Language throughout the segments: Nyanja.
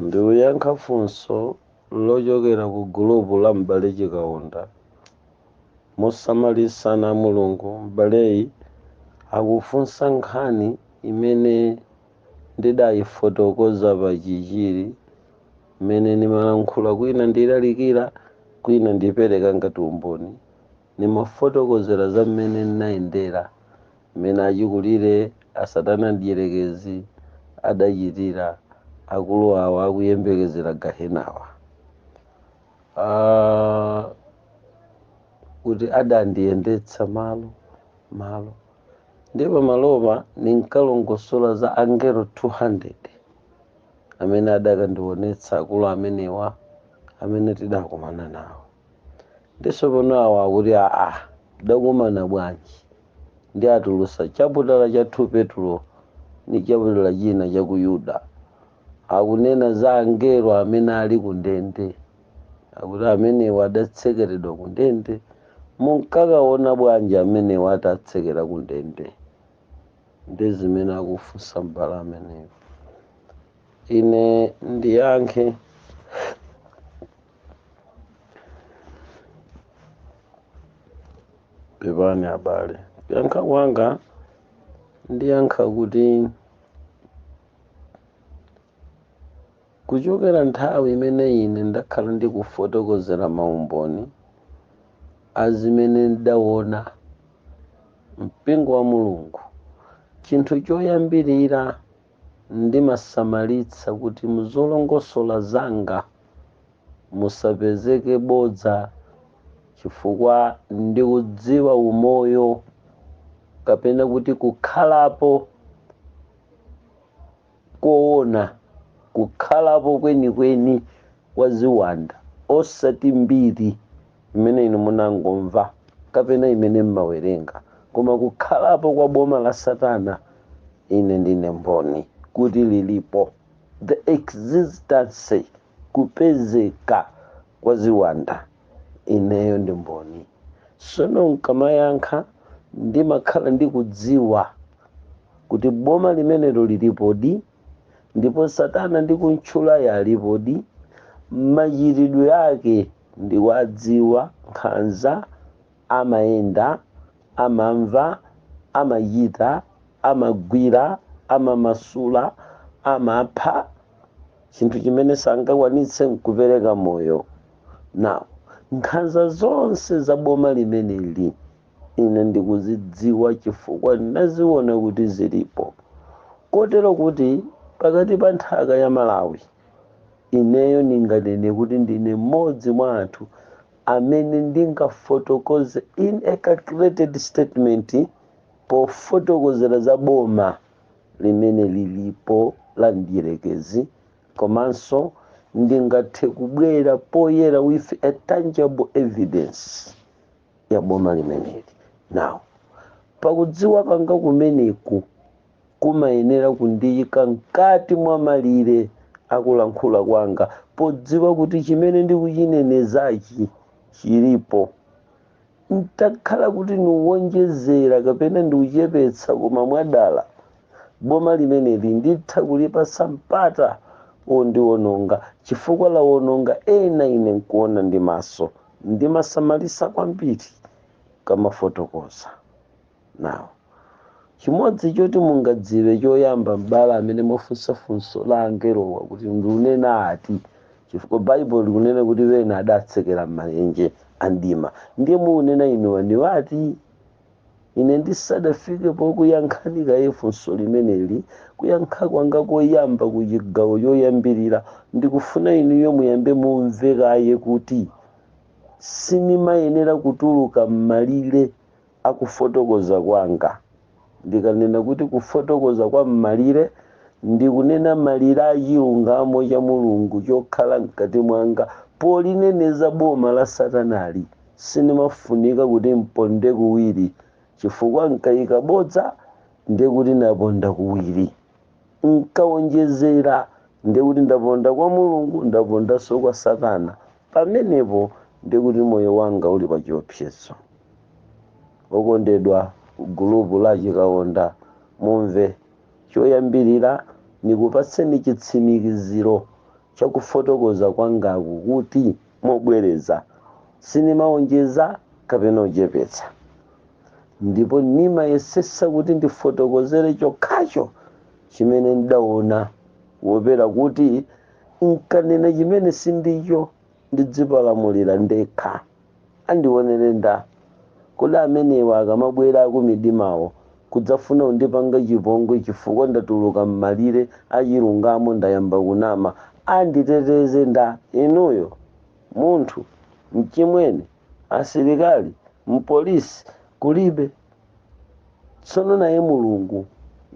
Ndikuyankha funso lochokera ku gulupu la M'bale Chikaonda. Mosamalitsa, ana a Mulungu, m'baleyi akufunsa nkhani imene ndidayifotokoza pa Chichiri mmene ndimalankhula kwina ndilalikira kwina ndipereka ngati umboni Nimafotokozela za mmene n'nayendela, mmene acikulile a Satana Adyelekezi adacitila akulu awa akuyembekezela Gahenawa. Aaa! Kuti adandiyendetsa malo malo. Ndiye pamalopa ninkalongosola za angelo 200 amene adakandionetsa akulu amenewa amene tidakumana nawo. ndiso pano awa akuti aa adakumana bwanji ndiye atulutsa chaputala cha 2 petulo ndi chaputala china cha ku yuda akunena za angelo amene ali ku ndende akuti amenewa adatsekeredwa ku ndende munkakaona bwanji amenewa atatsekera ku ndende ndi zimene akufunsa mbale ameneyo ine ndiyankhe pepani abale kuyankha kwanga ndiyankha kuti kuchokera nthawi imene ine ndakhala ndikufotokozera maumboni a zimene ndidaona mpingo wa mulungu chinthu choyambirira Ndimasamalitsa kuti mu zolongosola zanga musapezeke bodza chifukwa ndikudziwa umoyo kapena kuti kukhalapo koona, kukhalapo kwenikweni kwa ziwanda osati mbiri. imene inu munangomva kapena imene mmawerenga, koma kukhalapo kwa boma la Satana, ine ndine mboni kuti liripo. The existence, kupezeka, kwa ziwanda, ineyo ndi mboni. Tsono nkamayankha ndimakhala ndikudziwa kuti boma limenelo liripodi ndipo Satana ndikuntchulayo alipodi, machitidwe ake. Ndikuwadziwa nkhanza amayenda amamva amachita amagwira amamasula amapha chinthu chimene sangakwanitse nkupereka moyo now nkhanza zonse za boma limeneli ine ndikuzidziwa chifukwa ndinaziona kuti zilipo kotero kuti pakati pa nthaka ya Malawi Ineyo ndinganene kuti ndine mmodzi mwa anthu amene ndingafotokoze in a calculated statement pofotokozera za boma limene lilipo la mdyerekezi komanso ndingathe kubwera poyera with a tangible evidence ya boma limeneli. Now, pakudziwa kwanga kumeneku, kumayenera kundiyika mkati mwa malire a kulankhula kwanga, podziwa kuti chimene ndikuchinenezachi chilipo. N'takhala kuti ndikuwonjezera kapena ndikuchepetsa koma mwadala, boma limeneli nditha kulipatsa mpata wondiwononga chifukwa lawononga ena ine n'kuona ndi maso. Ndimasamalitsa kwambiri, nkamafotokoza. now chimodzi choti mungadziwe choyamba m'bale amene mwafunsa funso la angelowa kuti ndikunena ati chifukwa baibulo likunena kuti ena adatsekera m'mayenje a mdima ndiye mukunena inuwa ndi ati ine ndisadafike pokuyankhani kaye funso limeneli kuyankha kwanga koyamba ku chigawo choyambirira ndikufuna inuyo muyambe mumve kaye kuti sinimayenera kutuluka m'malire a Kufotokoza kwanga, Ndikanena kuti kufotokoza kwa m'malire, ndikunena malire a chilungamo cha Mulungu chokhala mkati mwanga polineneza boma la Satanali. Sindimafunika kuti mponde kuwiri, chifukwa n'kaika bodza, ndiye kuti naponda kuwiri. nkawonjezera, ndiye kuti ndaponda kwa Mulungu, ndapondanso kwa Satana. Pamenepo ndiye kuti moyo wanga uli pa chiopsezo. Okondedwa gulu la Chikaonda, mumve. Choyambirira, nikupatseni chitsimikiziro cha kufotokoza kwangaku kuti mobwereza sinimaonjeza kapena kuchepetsa ndipo nimayesesa kuti ndifotokozere chokhacho chimene ndaona kuopera kuti nkanena chimene sindicho. ndidzipalamulire ndekha andionere nda kodi amenewa akamabwera akumidimawo kudzafuna kundipanga chipongwe chifukwa ndatuluka mmalire achilungamo ndayamba kunama anditeteze nda inuyo munthu mchimwene asilikali mpolisi kulibe tsono naye mulungu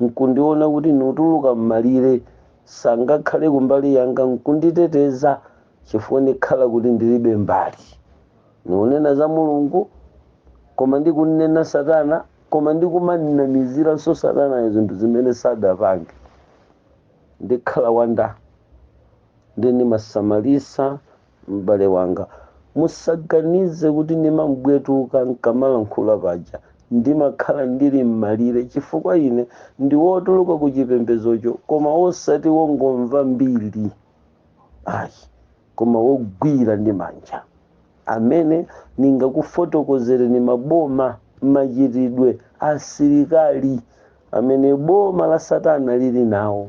nkundiona kuti niutuluka m'malire sangakhale kumbali yanga nkunditeteza chifukwa ndikhala kuti ndilibe mbali nikunena za mulungu koma ndikunena satana koma ndikumanamiziranso satanayo zinthu zimene sadapange ndikhala wa nda nde ndimasamalisa m'bale wanga musaganize kuti ndimambwetuka nkamalankhula paja ndimakhala ndili m'malire chifukwa ine ndi wotuluka ku chipembezocho koma wosati wongomva mbiri ayi koma wogwira ndi manja amene ndingakufotokozereni maboma machitidwe asilikali amene boma la satana lili nawo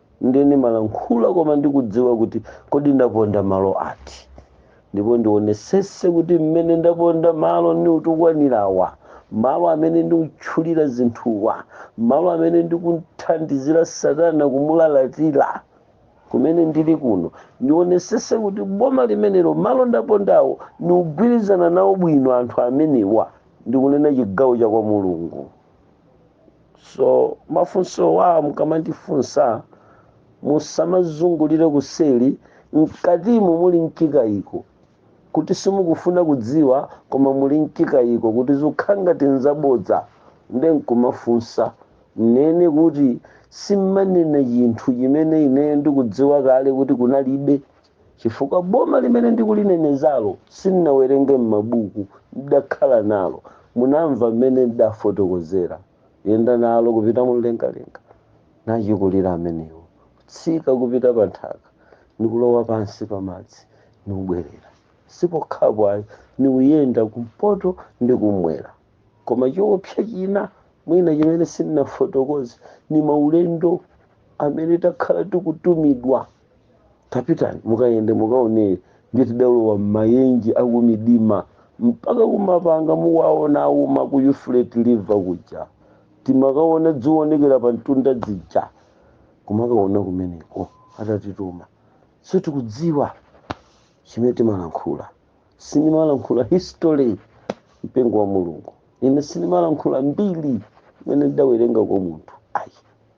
ndiye ndimalankhula koma ndikudziwa kuti kodi ndaponda malo ati ndipo ndionesese kuti mmene ndaponda malo niutukwanirawa malo amene ndikutchulira zinthuwa malo amene ndikuthandizira satana kumulalatira kumene ndili kuno ndionesese kuti boma limenero malo ndapondawo ndikugwirizana nawo bwino anthu amenewa ndikunena chigawo cha kwa mulungu so mafunsowa mukamandifunsa musamazungulire kuseri mkatimu muli mchikayiko kuti simukufuna kudziwa koma muli mchikayiko kuti zikukhala ngati nzabodza nde nkumafunsa nnene kuti simmanena chinthu chimene ineyo ndikudziwa kale kuti kunalibe chifukwa boma limene ndikulinenezalo sindinawerenge m'mabuku ndidakhala nalo munamva mmene ndidafotokozera yenda nalo kupita mumlengalenga nachikulire amenewo kutsika kupita pa nthaka nikulowa pansi pa madzi niubwera sipokhapo ayi niuyenda kumpoto ndi kumwera koma choopsa china mwina chimene sindinafotokoze ni maulendo amene takhala tikutumidwa tapitani mukayende mukaone ndiye tidalowa m'mayenje akumidima mpaka kumapanga muona akuuma ku Euphrates river kuja timakaona dziwonekera pa mtunda dzija kumakaona kumeneko atatituma so tikudziwa chimene timalankhula sindimalankhula history mpingo wa mulungu ine sindimalankhula mbiri imene ndidawerenga kwa munthu ayi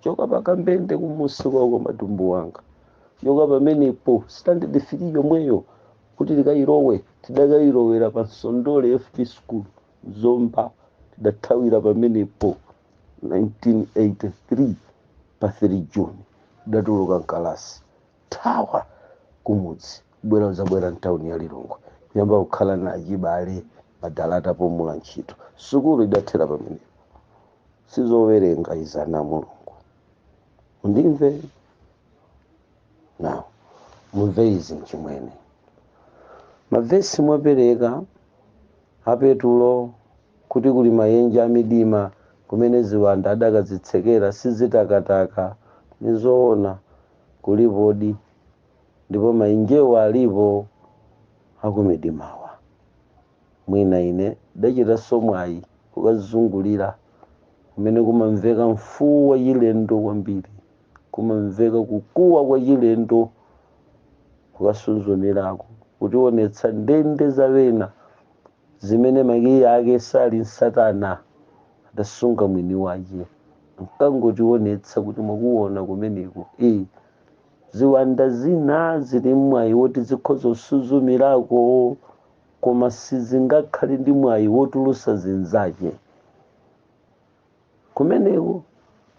choka pakambende kumusi kwa matumbu wanga choka pamenepo standard 3 yomweyo kuti tikayilowe tidakayilowera pa nsondole fp school zomba tidathawira pamenepo 1983 pa 3 juni tidatuluka mkalasi thawa kumudzi kubwera uzabwera mtawuni ya lilongwe kuyamba kukhala na achibale madalata pomula ntchito sukulu idathera pamenepo sizowerenga izana mulungu mundimve nawo mumve izi mchimwene mavesi mwapereka apetulo kuti kuli mayenje amidima kumene ziwanda adakazitsekera sizitakataka ni zoona kulipodi ndipo mayenjewo alipo akumidimawa Mwina ine ndachitanso mwayi kukazungulira kumene kumamveka mfuwu wachilendo kwambiri, kumamveka kukuwa kwachilendo, kukasuzumirako kutionetsa ndende za ena zimene makiyi ake sali ni satana adasunga mwini wache, ankangotionetsa kuti mwakuona kumeneko ee, ziwanda zina zili ni mwayi woti zikhoza kusuzumirako. koma sizingakhale ndi mwayi wotulusa zinzache kumeneko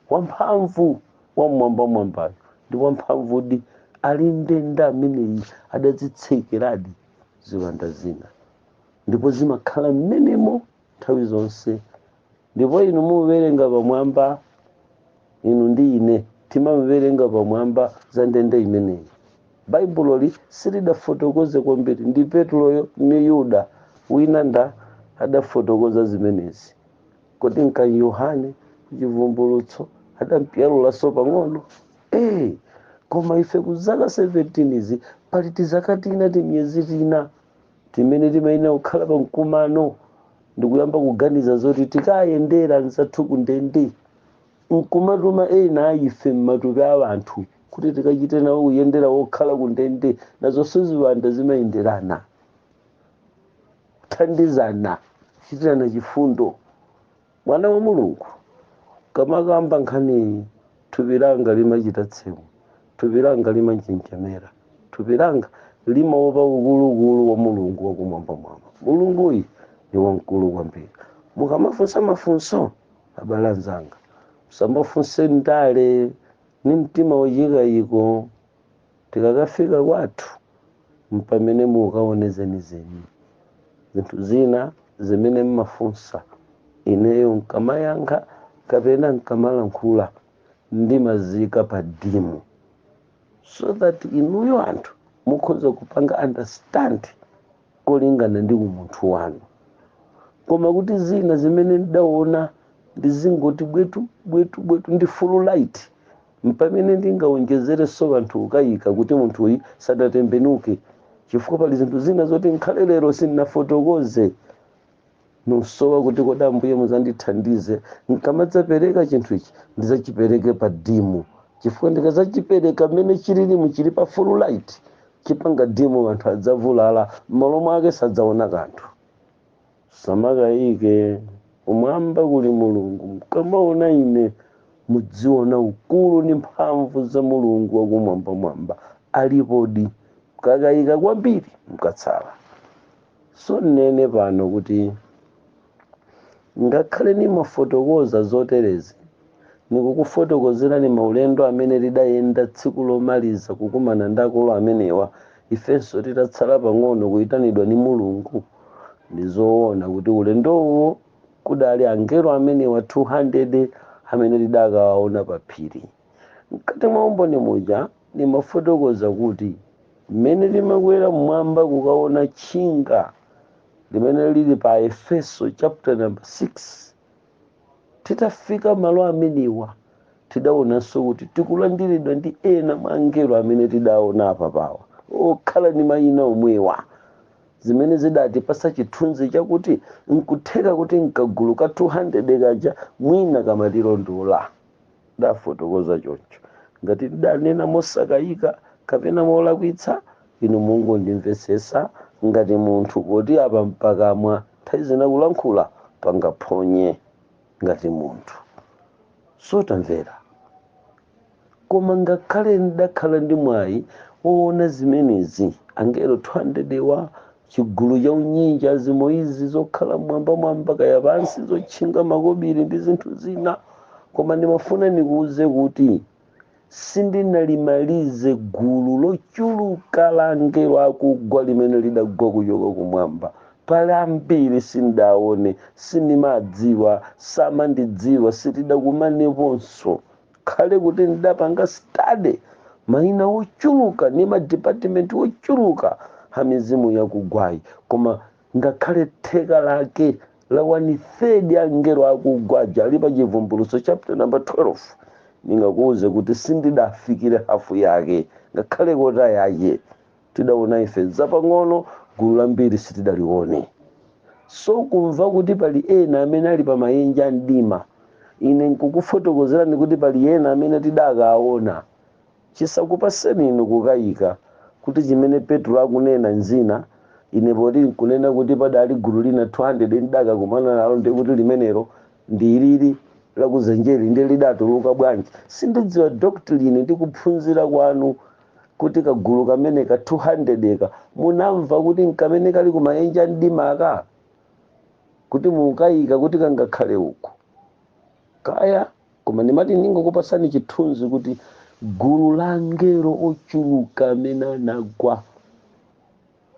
wamphamvu wam'mwambamwambayo ndi wamphamvudi ali ni ndende ameneyi adazitsekeradi ziwanda zina ndipo zimakhala mmenemo nthawi zonse ndipo inu muwerenga pamwamba inu ndi ine timawerenga pamwamba za ndende imeneyi baibuloli silidafotokoze kwambiri ndi petuloyo ni yuda wina nda adafotokoza zimenezi kodi nka yohane chivumbulutso adampyalulanso pang'ono ee koma ife kwa zaka 17 izi pali tizaka tina timiyezi tina timene timayenera kukhala pa mkumano ndi kuyamba kuganiza zoti tikayendera anzathu ku ndende nkumatuma ena a ife m'matupi a anthu kuti tikachite nawo kuyendera wokhala ku ndende nazonso ziwanda zimayenderana kuthandizana kuchitirana chifundo Mwana wa Mulungu ndikamakamba nkhaniyi, thupi langa limachita tsemwe, thupi langa limanjenjemera, thupi langa limaopa ukuluukulu wa Mulungu wa kumwambamwamba. Mulunguyi ni wamkulu kwambiri. Mukamafunsa mafunso, abale anzanga, musamafunse muli ni mtima wachikayiko. Tikakafika kwathu m'pamene mukaone zenizeni. Zinthu zina zimene m'mafunsa ineyo n'kamayankha kapena n'kamalankhula ndimaziika pa dimu so that inuyo anthu mukhoza kupanga understand kolingana ndi umunthu wanu. Koma kuti zina zimene ndidaona ndizingoti bwetu bwetu bwetu ndi full light Mpamene ndingawonjezerenso anthu kukayika kuti munthuyi sadatembenuke, chifukwa pali zinthu zina zoti nkhale lero sindinafotokoze. Nisowa kuti kodi Ambuye muzandithandize, nkamadzapereka chinthu ichi ndizachipereke pa dimu, chifukwa ndikazachipereka mmene chililimu chili pa full light, chipanga dimu anthu adzavulala mmalo mwake sadzaona kanthu. Musamakayike, kumwamba kuli Mulungu, mukamaona ine mudziona ukulu ndi mphamvu za Mulungu wakumwambamwamba, alipodi, mukakayika kwambiri mukatsala. So ninene pano kuti ngakhale nimafotokoza zoterezi, Ndikukufotokozerani maulendo amene tidayenda tsiku lomaliza kukumana ndi akulu amenewa, ifenso titatsala pang'ono kuitanidwa ndi Mulungu. Ndi zoona kuti ulendowo kudali angelo amenewa 200 amene tidakawaona pa phiri. Mkati mwa umboni muja ndimafotokoza kuti mmene timakwera m'mwamba kukaona tchinga limene lili pa Aefeso chaputa number 6 titafika malo amenewa tidaonanso kuti tikulandiridwa ndi ena mwa angelo amene tidaona apapawa okhala ndi mayina omwewa zimene zidatipasa chithunzi chakuti nkutheka kuti kagulu ka 200 kaja mwina kamatilondola ndafotokoza choncho ngati ndidanena mosakayika kapena molakwitsa inu mungondimvetsetsa ngati munthu poti apa m'pakamwa nthawi zina kulankhula pangaphonye ngati munthu so tamvera koma ngakhale ndidakhala ndi mwayi woona zimenezi angelo 200 wa chigulu cha unyinji a zimoyo izi zokhala mwambamwamba kaya pansi zotchinga makobiri ndi zinthu zina koma ndimafuna ndikuuze kuti sindinalimalize gulu lochuluka la angelo akugwa limene lidagwa kuchoka kumwamba pali ambiri sindidaone sindimadziwa samandidziwa sitidakumaneponso khale kuti ndidapanga study maina ochuluka ndi madipatimenti ochuluka a mizimu yakugwayi koma ngakhale theka lake la one third ya angelo akugwa aja ali pa chivumbulutso chapter number 12 ndingakuwuze kuti sindidafikire hafu yake ngakhale kota yake tidaona ife zapang'ono gulu lambiri sitidalione so kumva kuti pali ena amene ali kumayenje a mdima ine nkukufotokozerani kuti pali ena amene tidakaona Chisakupatseni inu kukaika, kuti chimene Petro akunena nzina, inepo ndikunena kuti padali gulu lina 200 ndidakakumana nalo, ndiye kuti limenelo ndi ilili la kudzenjeli ndiye lidatuluka bwanji? Sindidziwa doctrine ndi kuphunzira kwanu kuti kagulu kameneka ka 200 ka munamva kuti nkamene kali kumayenje amdima aka? Kuti mukaika kuti kangakhale uko? kaya koma ndimati ndingokupatsani chithunzi kuti gulu la angelo ochuluka amene anagwa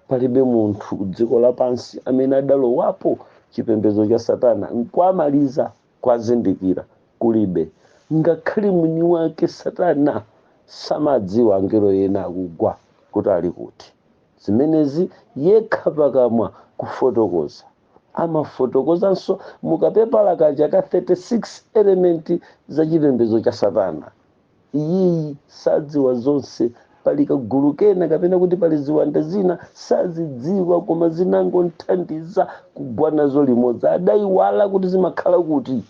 palibe munthu dziko lapansi amene adalowapo chipembedzo cha satana nkuwamaliza kuwazindikira kulibe ngakhale mwini wake satana samawadziwa angelo ena akugwa kuti ali kuti zimenezi yekha pakamwa kufotokoza amafotokozanso mu kapepala kaja ka 36 element za chipembedzo cha satana iyeyu sadziwa zonse pali kagulu kena kapena kuti pali ziwanda zina sazidziwa koma zinangomthandiza kugwa nazo limodzi adayiwala kuti zimakhala kuti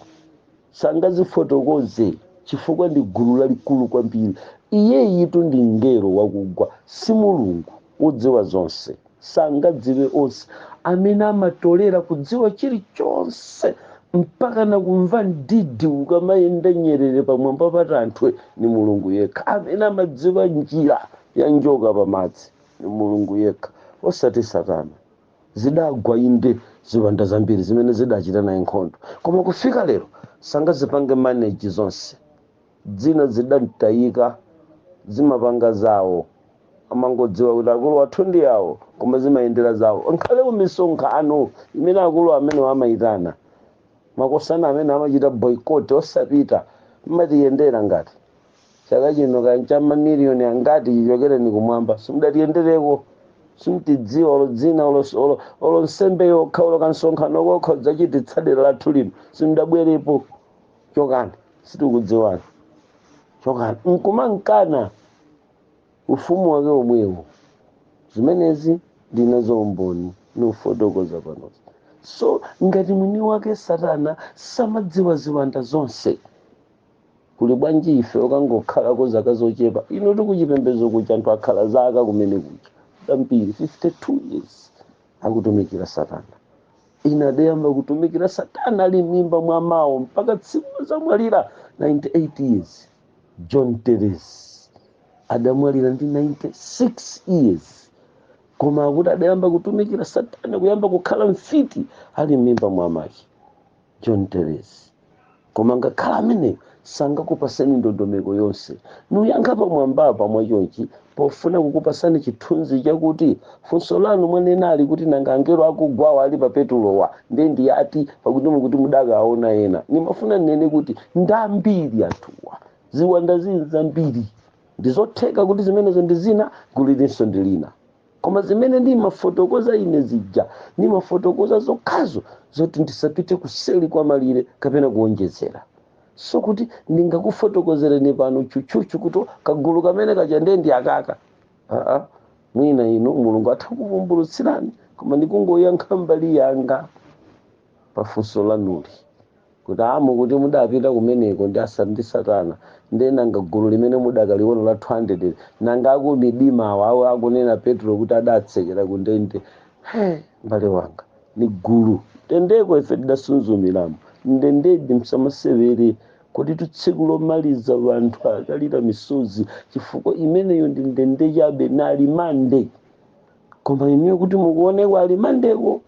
sangazifotokoze chifukwa ndi gulu lalikulu kwambiri iyeyutu ndi mngelo wakugwa si mulungu wodziwa zonse sangadziwe onse amene amatolera kudziwa chilichonse mpaka na kumva mdidi ikamayenda nyerere pamwamba pa tanthwe ni mulungu yekha amene amadziwa njira ya njoka pamadzi ni mulungu yekha osati satana zidagwa inde ziwanda zambiri zimene zidachita naye nkhondo koma kufika lero sangazipange manage zonse zina zidamtayika zimapanga zawo amangodziwa kuti akulu athu ndi awo koma zimayendera zawo nkhale kumisonkhano imene akulu amenewo amayitana makosana amene amachita boycott osapita mumatiyendera ngati chaka chino kaya ncha mamiliyoni angati chichokereni kumwamba simudatiyendereko simutidziwa olo dzina olo, olo, olo nsembe yokha olo kansonkhano kokha kudzachititsa dera lathu lino simudabwerepo chokani sitikudziwani chokani nkumankana ufumu wake omwewo zimenezi ndili nazo umboni nkufotokoza panozi so ngati mwini wake satana samadziwa ziwanda zonse kuli bwanji ife okangokhalako zaka zochepa hino tikuchipembedzo kucha anthu akhala zaka kumene kucha zambiri 52 years akutumikira satana ina adayamba kutumikira satana ali m'mimba mwa mawo mpaka tsiku lodzamwalira 98 years john teres adamwalira ndi 96 years koma akuti adayamba kutumikira satana kuyamba kukhala mfiti ali m'mimba mwa make john teres koma ngakhale ameneyo sangakupaseni ndondomeko yonse ndikuyankha pamwambapa mwachonchi pofuna kukupasani chithunzi chakuti funso lanu mwanenali kuti nanga angelo akugwawa ali pa Petulowa nde ndi ati pakuti mukuti mudakaona ena ndimafuna ndinene kuti ndambiri anthuwa ziwanda zili zambiri ndizotheka kuti zimenezo ndi zina gulu ilinso ndi lina koma zimene ndimafotokoza ine zija ndimafotokoza zokhazo zoti ndisapite kuseli kwa malire kapena kuonjezera so kuti ndingakufotokozereni pano chuchuchu kuti kagulu kamene kaja ndiye ndi akaka aa mwina inu mulungu atha kukuvumbulutsirani koma ndikungoyankha mbali yanga pafunso lanuli kuti, a, mukuti mudapita kumeneko ndi a, ndi Satana, ndiye nanga gulu limene mudakaliona la 200 lija, nanga aku midima awa, awo akunena Petulo kuti adatsekera ku ndende, he, mbale wanga, ni gulu, ndendeko ife tidasunzumiramo, ndendedi, msamasewere, koditu tsiku lomaliza wanthu akalira misozi, chifukwa imeneyo ndi ndende chabe, ni alimandi, koma inuyo kuti mukaoneko alimandiko,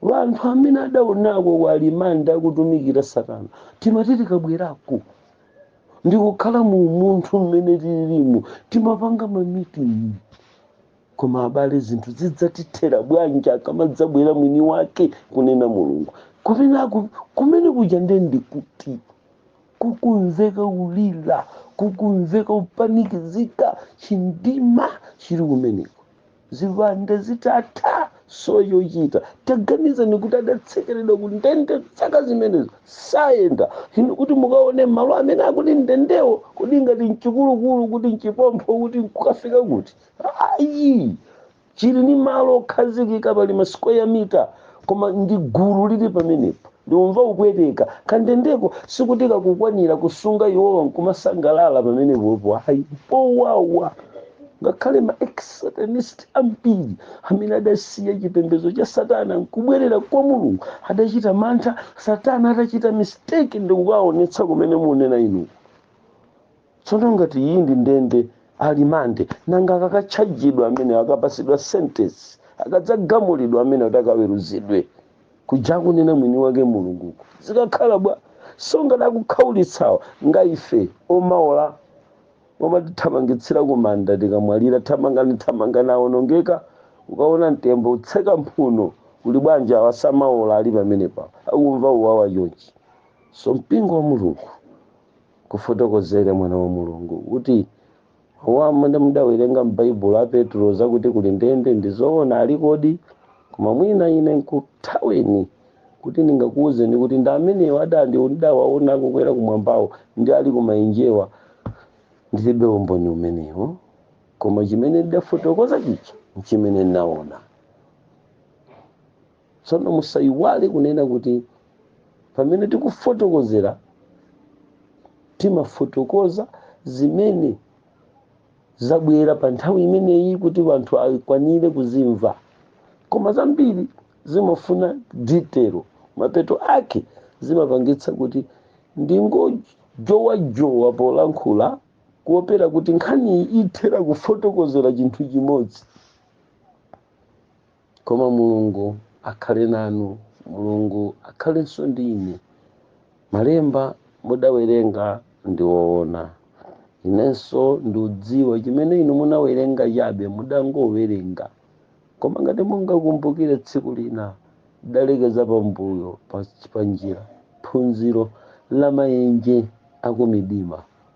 Wanthu amene adaonako ku alimandi akutumikira satana timati tikabwerako ndikukhala mu umunthu mmene tililimu timapanga ma meeting koma abale zinthu zidzatithera bwanji akamadzabwera mwini wake kunena mulungu kumene aku- kumene kuja nde ndikuti kukumveka kulira kukumveka upanikizika chindima chili kumeneko ziwanda zitatha so chochita taganizani kuti adatsekeredwa ku ndende zaka zimenezo sayenda hino kuti mukaone malo amene akuti nndendewo kuti ngati mchikulukulu kuti mchipompho kuti nkukafika kuti ayi chili ni malo okhazikika pali ma square meter koma ndi gulu lili pamenepo ndikumva kupweteka kandendeko sikuti kakukwanira kusunga iwowa nkumasangalala pamenepopo ayi mpowawa ngakhale ma ex-satanist ambiri amene adasiya chipembedzo cha satana nkubwerera kwa mulungu adachita mantha satana atachita mistake ndikukaonetsa kumene munena inu tsono ngati iyi ndi ndende ya remand nanga akakatchajidwa amenewo akapasidwa sentence akadzagamulidwa amene kuti akaweruzidwe kuja akunena mwini wake mulunguko zikakhala bwa so ngati akukhaulitsawa nga ife omaola omatithamangitsira kumanda tikamwalira thamangani thamangani aonongeka ukaona mtembo utseka mphuno kuli bwanji awa samaola ali pamenepa akumva uwawa chonchi so mpingo wa mulungu kufotokozera mwana wa mulungu kuti mawu amene mudawerenga m'baibulo a petulo zakuti kuli ndende ndi zoona alikodi koma mwina ine nkuthaweni kuti ndingakuwuzeni kuti ndi amenewo adandi ndidawaona akukwera kumwambawo ndi ali kumaenjewa ndilibe umboni umenewo koma chimene ndidafotokoza chija nchimene ndinaona tsono musayiwale kunena kuti pamene tikufotokozera timafotokoza zimene zabwera pa nthawi imeneyi kuti wanthu akwanire kuzimva koma zambiri zimafuna detail mapeto ake zimapangitsa kuti ndingojowajowa polankhula kuopera kuti nkhaniyi ithera kufotokozera chinthu chimodzi koma mulungu akhale nanu mulungu akhalenso ndi ine malemba mudawerenga ndi owona inenso ndiudziwa chimene inu munawerenga chabe mudangowerenga koma ngati mungakumbukire tsiku lina ndidalekeza pambuyo pa- panjira phunziro la mayenje akumidima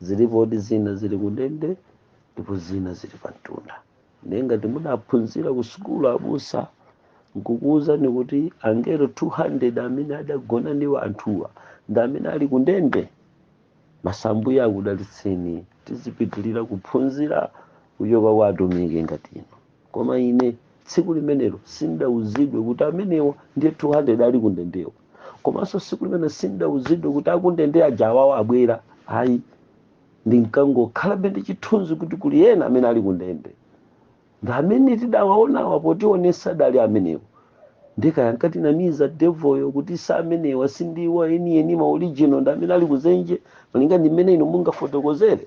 Zilipodi zina zili kundende ndipo zina zili pamtunda. Ndiye ngati mudaphunzira kusukulu abusa nkukuwuzani kuti angelo 200 amene adagona ndi anthuwa ndi amene ali kundende, basi Ambuye akudalitseni tizipitirira kuphunzira kuchoka kwa atumiki ngati inu. Koma ine tsiku limenelo sindidauzidwe kuti amenewo ndiye 200 ali kundendewo, komanso tsiku limenelo sindidauzidwe kuti akundende aja awawa abwera. Ayi, ndinkangokhalabe ndi chithunzi kuti kuli ena amene ali kundende ndi amene tidawaonawa potionesa adali amenewo ndiye kaya ankatinamiza devil yo kuti si amenewa sindiwo enieni ma original ndi amene ali kudzenje malinga ndi mmene inu mungafotokozere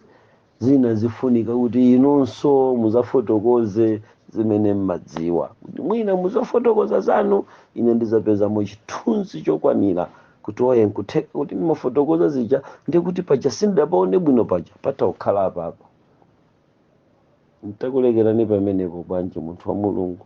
zina zifunika kuti inunso muzafotokoze zimene mmadziwa kuti mwina muzafotokoza zanu ine ndizapezamo chithunzi chokwanira kuti ayi nkutheka kuti ndimafotokoza zija ndikuti paja sindidapaone bwino paja patha kukhala apapa ntakulekerani pamenepo bwanji munthu wa mulungu